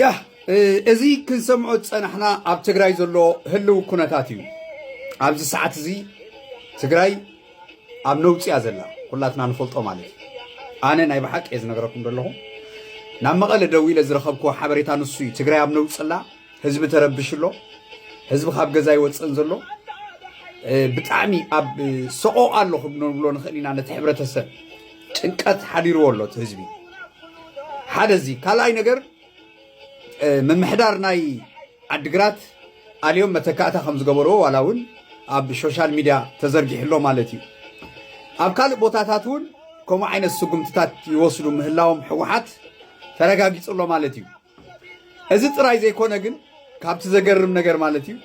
ያህ እዚ ክንሰምዖ ዝጸናሕና ኣብ ትግራይ ዘሎ ህልው ኩነታት እዩ። ኣብዚ ሰዓት እዚ ትግራይ ኣብ ነውፂ እያ ዘላ ኩላትና ንፈልጦ ማለት እዩ። ኣነ ናይ ብሓቂ እየ ዝነገረኩም ዘለኹ ናብ መቐለ ደው ኢለ ዝረኸብክዎ ሓበሬታ ንሱ እዩ። ትግራይ ኣብ ነውፂ ኣላ፣ ህዝቢ ተረብሽ ኣሎ፣ ህዝቢ ካብ ገዛ ይወፅእን ዘሎ ብጣዕሚ ኣብ ሰቆ ኣሎ ክንብሎ ንኽእል ኢና ነቲ ሕብረተሰብ ጭንቀት ሓዲርዎ ኣሎ እቲ ህዝቢ ሓደ እዚ ካልኣይ ነገር ምምሕዳር ናይ ዓድግራት ኣልዮም መተካእታ ከም ዝገበርዎ ዋላ እውን ኣብ ሶሻል ሚድያ ተዘርጊሕሎ ማለት እዩ ኣብ ካልእ ቦታታት እውን ከምኡ ዓይነት ስጉምትታት ይወስዱ ምህላዎም ሕወሓት ተረጋጊፁ ኣሎ ማለት እዩ እዚ ጥራይ ዘይኮነ ግን ካብቲ ዘገርም ነገር ማለት እዩ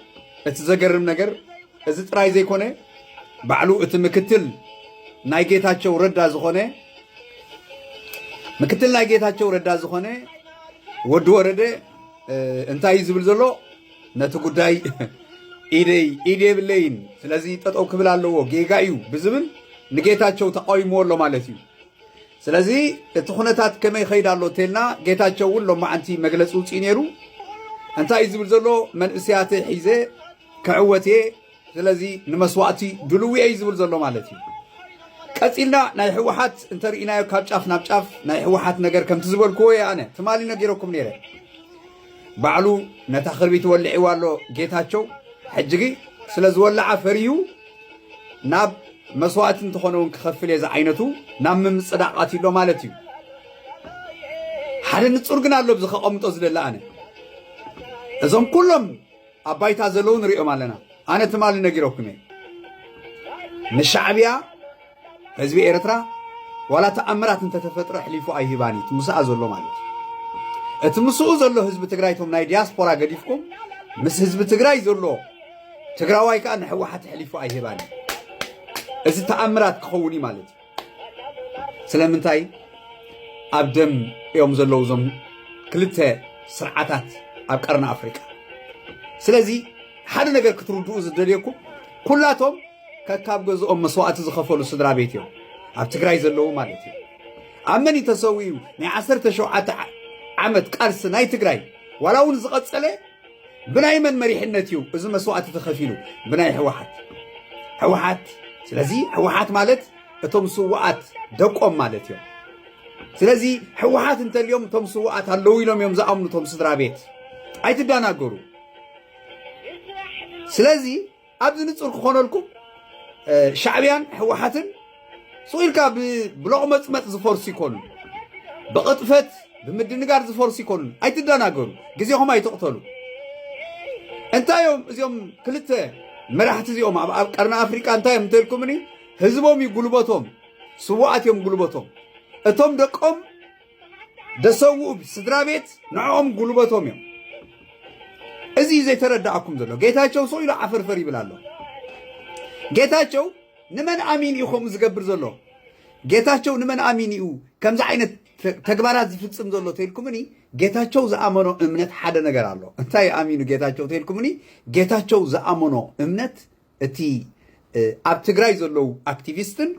እቲ ዘገርም ነገር እዚ ጥራይ ዘይኮነ ባዕሉ እቲ ምክትል ናይ ጌታቸው ረዳ ዝኾነ ምክትል ናይ ጌታቸው ረዳ ዝኾነ ወዲ ወረደ እንታይ እዩ ዝብል ዘሎ ነቲ ጉዳይ ኢደይ ኢድ የብለይን ስለዚ ጠጠው ክብል ኣለዎ ጌጋ እዩ ብዝብል ንጌታቸው ተቃዊምዎ ኣሎ ማለት እዩ ስለዚ እቲ ኩነታት ከመይ ይኸይድ ኣሎ እንተልና ጌታቸው እውን ሎማዓንቲ መግለፂ ውፅኢ ነይሩ እንታይ እዩ ዝብል ዘሎ መንእስያተይ ሒዘ ክዕወት እየ ስለዚ ንመስዋእቲ ድልው እየ እዩ ዝብል ዘሎ ማለት እዩ ቀፂልና ናይ ህወሓት እንተርእናዮ ካብ ጫፍ ናብ ጫፍ ናይ ህወሓት ነገር ከምቲ ዝበልክዎ እየ ኣነ ትማሊ ነጊረኩም ነይረ ባዕሉ ነታ ክርቢት ወሊዒዋ ኣሎ ጌታቸው ሕጂ ግን ስለ ዝወላዓ ፈሪሁ ናብ መስዋእቲ እንተኾነ እውን ክኸፍል እየ ዝዓይነቱ ናብ ምምፅዳቕ ኣትዩ ኣሎ ማለት እዩ ሓደ ንፁር ግን ኣሎ ብዚ ከቐምጦ ዝደለ ኣነ እዞም ኩሎም ኣብ ባይታ ዘለዉ ንሪኦም ኣለና ኣነ ትማሊ ነጊረኩም እየ ንሻዕብያ ህዝቢ ኤርትራ ዋላ ተኣምራት እንተተፈጥረ ኣሕሊፉ ኣይህባን እዩ ምስኣ ዘሎ ማለት እዩ እቲ ምስኡ ዘሎ ህዝቢ ትግራይ እቶም ናይ ዲያስፖራ ገዲፍኩም ምስ ህዝቢ ትግራይ ዘሎ ትግራዋይ ከዓ ንሕወሓት ኣሕሊፉ ኣይህባን እዩ እዚ ተኣምራት ክኸውን እዩ ማለት እዩ ስለምንታይ ኣብ ደም እዮም ዘለዉ እዞም ክልተ ስርዓታት ኣብ ቀርኒ ኣፍሪቃ ስለዚ ሓደ ነገር ክትርድኡ ዝደልየኩም ኩላቶም ከካብ ገዝኦም መስዋእቲ ዝኸፈሉ ስድራ ቤት እዮም ኣብ ትግራይ ዘለዉ ማለት እዩ ኣብ መን ተሰዊኡ ናይ ዓሰርተ ሸውዓተ ዓመት ቃልሲ ናይ ትግራይ ዋላ እውን ዝቐፀለ ብናይ መን መሪሕነት እዩ እዚ መስዋእቲ ተኸፊሉ ብናይ ሕወሓት ሕወሓት ስለዚ ሕወሓት ማለት እቶም ስዋኣት ደቆም ማለት እዮም ስለዚ ሕወሓት እንተልዮም እቶም ስዋኣት ኣለዉ ኢሎም እዮም ዝኣምኑ እቶም ስድራ ቤት ኣይትደናገሩ ስለዚ ኣብዚ ንጹር ክኾነልኩም ሻዕብያን ህወሓትን ሱቕ ኢልካ ብሎቕመፅመፅ ዝፈርሱ ይኮኑ ብቕጥፈት ብምድንጋር ዝፈርሱ ይኮኑ ኣይትደናገሩ ግዜኹም ኣይትቕተሉ እንታይ እዮም እዚኦም ክልተ መራሕቲ እዚኦም ኣብ ቀርኒ ኣፍሪቃ እንታይ እዮም እንተልኩምኒ ህዝቦም እዩ ጉልበቶም ስዋኣት እዮም ጉልበቶም እቶም ደቆም ደሰውኡ ስድራ ቤት ንዕኦም ጉልበቶም እዮም። እዚ እዩ ዘይተረዳኣኩም ዘሎ። ጌታቸው ሰው ኢሉ ዓፈርፈር ይብል ኣሎ። ጌታቸው ንመን ኣሚን እዩ ከምኡ ዝገብር ዘሎ? ጌታቸው ንመን ኣሚን እዩ ከምዚ ዓይነት ተግባራት ዝፍፅም ዘሎ ተልኩምኒ ጌታቸው ዝኣመኖ እምነት ሓደ ነገር ኣሎ። እንታይ ኣሚኑ ጌታቸው ተልኩምኒ ጌታቸው ዝኣመኖ እምነት እቲ ኣብ ትግራይ ዘለዉ ኣክቲቪስትን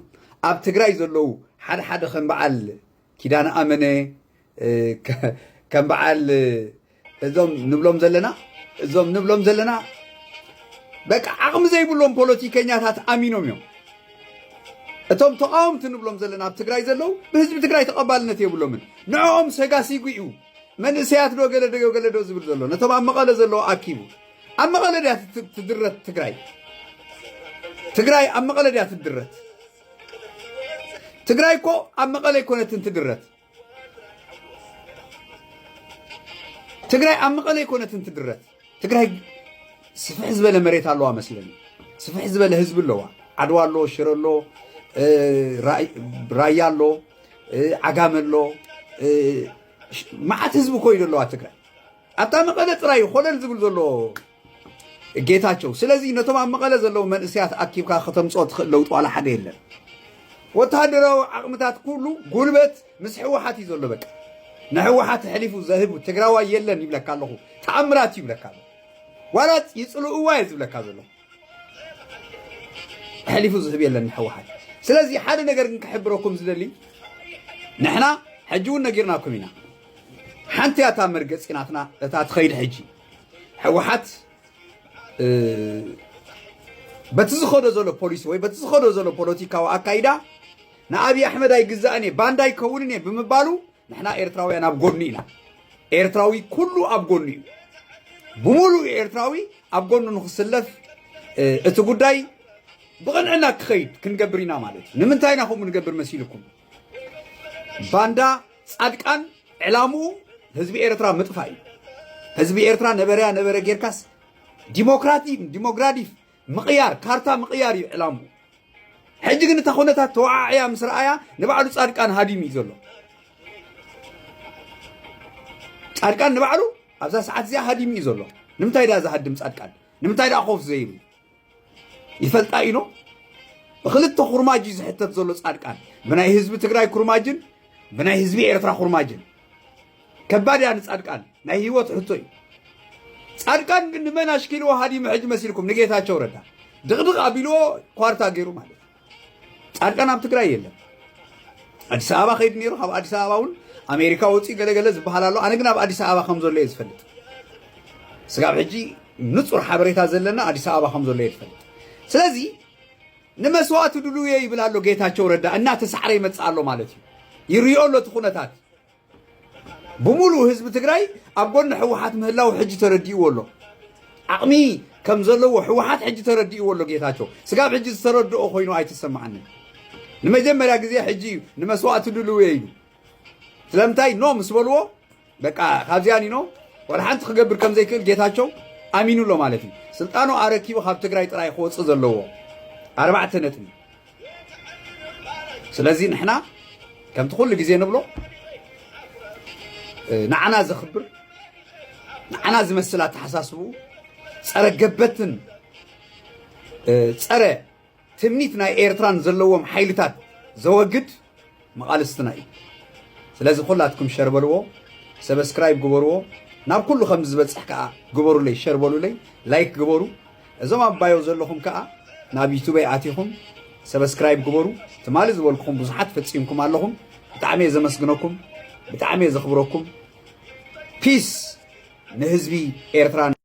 ኣብ ትግራይ ዘለዉ ሓደ ሓደ ከም በዓል ኪዳነ ኣመነ ከም በዓል እዞም ንብሎም ዘለና እዞም ንብሎም ዘለና በቃ ዓቕሚ ዘይብሎም ፖለቲከኛታት ኣሚኖም እዮም እቶም ተቃወምቲ ንብሎም ዘለና ኣብ ትግራይ ዘለዉ ብህዝቢ ትግራይ ተቐባልነት የብሎምን ንዕኦም ሰጋሲጉ እዩ መንእሰያት ዶ ገለ ዶ ገለ ዶ ዝብል ዘሎ ነቶም ኣብ መቐለ ዘለዎ ኣኪቡ ኣብ መቐለ ድያ ትድረት ትግራይ ትግራይ ኣብ መቐለ ድያ ትድረት ትግራይ እኮ ኣብ መቐለ ኣይኮነትን ትድረት ትግራይ ኣብ መቐለ ኣይኮነትን ትድረት ትግራይ ስፍሕ ዝበለ መሬት ኣለዋ መስለኒ ስፍሕ ዝበለ ህዝቢ ኣለዋ ዓድዋ ኣሎ ሽረ ኣሎ ራያ ኣሎ ዓጋመ ኣሎ መዓት ህዝቢ ኮይዶ ኣለዋ ትግራይ ኣብታ መቐለ ጥራይ ኮለል ዝብል ዘሎ ጌታቸው ስለዚ ነቶም ኣብ መቐለ ዘለዉ መንእሰያት ኣኪብካ ከተምፅኦ ትኽእል ለውጢ ዋላ ሓደ የለን። ወተሃደራዊ ዓቕምታት ኩሉ ጉልበት ምስ ሕወሓት እዩ ዘሎ። በቃ ንሕወሓት ሕሊፉ ዘህቡ ትግራዋይ የለን ይብለካ ኣለኹ። ተኣምራት እዩ ይብለካ ኣለኹ። ዋላ ይፅልእዋ እየ ዝብለካ ዘሎ ሕሊፉ ዝህብ የለን ንሕወሓት። ስለዚ ሓደ ነገር ግን ክሕብረኩም ዝደሊ ንሕና ሕጂ እውን ነጊርናኩም ኢና ሓንቲ እያ እታ መርገፂ ናትና እታ ትኸይድ ሕጂ ሕወሓት በቲ ዝኸዶ ዘሎ ፖሊሲ ወይ በቲ ዝኸዶ ዘሎ ፖለቲካዊ ኣካይዳ ንኣብዪ ኣሕመድ ኣይግዛእን እየ ባንዳ ኣይከውንን እየ ብምባሉ ንሕና ኤርትራውያን ኣብ ጎኑ ኢና ኤርትራዊ ኩሉ ኣብ ጎኑ እዩ ብምሉእ ኤርትራዊ ኣብ ጎኑ ንክስለፍ እቲ ጉዳይ ብቕንዕና ክኸይድ ክንገብር ኢና ማለት እዩ ንምንታይ ኢና ከምኡ ንገብር መሲልኩም ባንዳ ፃድቃን ዕላምኡ ህዝቢ ኤርትራ ምጥፋእ እዩ ህዝቢ ኤርትራ ነበረያ ነበረ ጌርካስ ዲሞክራቲክ ዲሞግራዲፍ ምቕያር ካርታ ምቕያር እዩ ዕላሙ ሕጂ ግን እታ ኩነታት ተወዓዕያ ምስ ረኣያ ንባዕሉ ፃድቃን ሃዲሙ እዩ ዘሎ ፃድቃን ንባዕሉ ኣብዛ ሰዓት እዚኣ ሃዲሙ እዩ ዘሎ ንምንታይ ድኣ ዝሃድም ፃድቃን ንምንታይ ድኣ ኮፍ ዘይሩ ይፈልጣ ኢኖ ብክልተ ኩርማጅ እዩ ዝሕተት ዘሎ ፃድቃን ብናይ ህዝቢ ትግራይ ኩርማጅን ብናይ ህዝቢ ኤርትራ ኩርማጅን ከባድ እያ ንፃድቃን ናይ ህይወት ሕቶ እዩ ፃድቃን ግን ንመን ኣሽኪልዎ ሃዲሙ ሕጂ መሲልኩም ንጌታቸው ረዳ ድቕድቕ ኣቢልዎ ኳርታ ገይሩ ማለት እዩ ፃድቃን ኣብ ትግራይ የለን ኣዲስ ኣበባ ከይድ ነይሩ ካብ ኣዲስ ኣበባ እውን ኣሜሪካ ወፂኡ ገለገለ ዝበሃል ኣሎ ኣነ ግን ኣብ ኣዲስ ኣበባ ከም ዘሎ እየ ዝፈልጥ ስጋብ ሕጂ ንፁር ሓበሬታ ዘለና ኣዲስ ኣበባ ከም ዘሎ እየ ዝፈልጥ ስለዚ ንመስዋእቲ ድሉየ ይብል ኣሎ ጌታቸው ረዳ እናተሳዕረ ይመፅእ ኣሎ ማለት እዩ ይሪኦ ኣሎ እቲ ኩነታት ብምሉኡ ህዝቢ ትግራይ ኣብ ጎኒ ሕወሓት ምህላው ሕጂ ተረዲእዎ ኣሎ ዓቕሚ ከም ዘለዎ ሕወሓት ሕጂ ተረዲእዎ ኣሎ ጌታቸው ስጋብ ሕጂ ዝተረድኦ ኮይኑ ኣይተሰማዓንን ንመጀመርያ ግዜ ሕጂ እዩ ንመስዋእቲ ድልው እየ ኢሉ ስለምንታይ ኖ ምስ በልዎ በቃ ካብዚኣን ኢኖ ወላ ሓንቲ ክገብር ከም ዘይክእል ጌታቸው ኣሚኑ ኣሎ ማለት እዩ ስልጣኑ ኣረኪቡ ካብ ትግራይ ጥራይ ክወፅእ ዘለዎ ኣርባዕተ ነጥቢ ስለዚ ንሕና ከምቲ ኩሉ ግዜ ንብሎ ንዓና ዘኽብር ንዓና ዝመስል ኣተሓሳስብኡ ፀረ ገበትን ፀረ ትምኒት ናይ ኤርትራን ዘለዎም ሓይልታት ዘወግድ መቓልስትና እዩ ስለዚ ኩላትኩም ሸር በልዎ ሰብስክራይብ ግበርዎ ናብ ኩሉ ከም ዝበጽሕ ከኣ ግበሩለይ ሸር በሉለይ ላይክ ግበሩ እዞም ኣብ ባዮ ዘለኹም ከኣ ናብ ዩቱበይ ኣቲኹም ሰብስክራይብ ግበሩ ትማሊ ዝበልኩኹም ብዙሓት ፈጺምኩም ኣለኹም ብጣዕሚ እየ ዘመስግነኩም ብጣዕሚ እየ ዘኽብረኩም ፒስ ንህዝቢ ኤርትራ